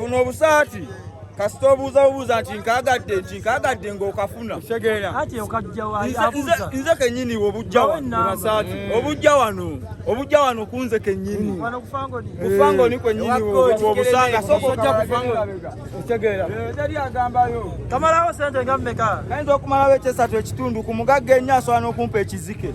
buno obusaati kasita obuuza bubuuza nti nkaagadde nti nkaagadde ng'okafuna nze kennyini obujja wano obujja wano kunze kennyini kufangoni kwennyiniobusanga sokojja kufangokamalawo sente nga mmeka ayinza okumalawo ekyesatu ekitundu ku mugagga ennyo asobola n'okumpa ekizike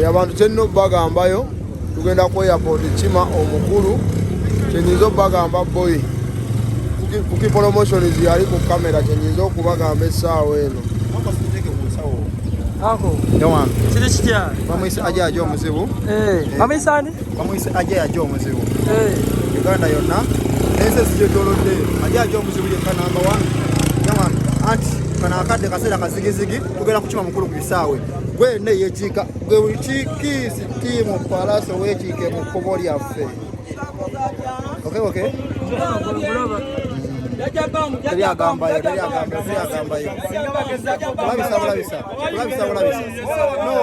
eh, abantu kyennina okubagambayo tugenda ku airport kima omukulu kyenyinza okubagamba boy kuki promotions yali ku kamera kyenyinza okubagamba essaawa eno kiri kitya bamuyisa ajaja omuzibu eh, bamuyisa bamuyise aja yaja omuzibu eh. uganda yonna ensi ezigyetolodde aja yaja omuzibu yekka namba one yaman anti kano akadde kaseera kazigizigi tugenda kukima mukulu ku bisaawe gwe ne yekiika gwe buli kikiisi tiimu palaso wekiike mu kkubo lyaffe okay okay teri agambayo teri agambayo teri agambayo kulabisa kulabisa kulabisa kulabisa no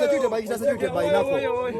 security by security by nako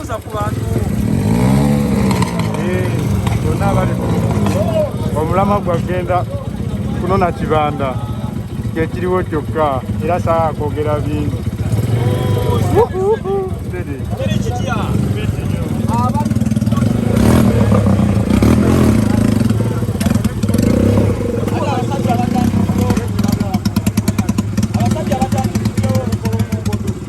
Tuza ku bantu bonna abali omulama gwagenda kunona kibanda kyekiriwo kyokka era saa kwogera bingi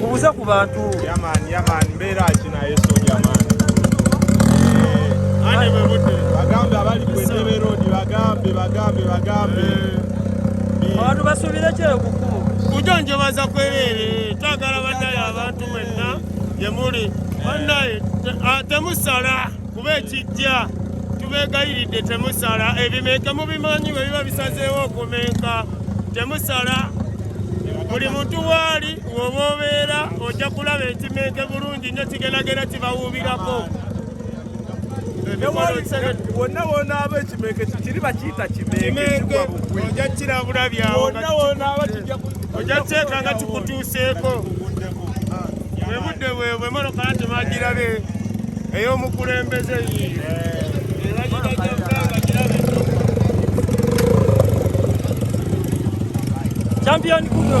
mubuze ku bantu yamani yamani mbeera ki naye soja mani bagambe abali ku entebe roodi bagambe bagambe bagambe abantu basuubire kyeyo ku kkubo kujonjobaza kwereere twagala bannaye abantu mwenna gye muli bannaye temusala kuba ekijja tubeegayiridde temusala ebimenke mubimanyi bwe biba bisazeewo okumenka temusala buli muntu waali woba obeera ojja kulaba ekimenke bulungi nyo kigendagenda kibawuubirako wonna wonaaba ekimenke kiri bakiyita kimenke ojja kirabula byawo ojja kiteeka nga kikutuuseeko bwe budde bwe bwemoloka nti magirabe ey'omukulembeze yi champion kuno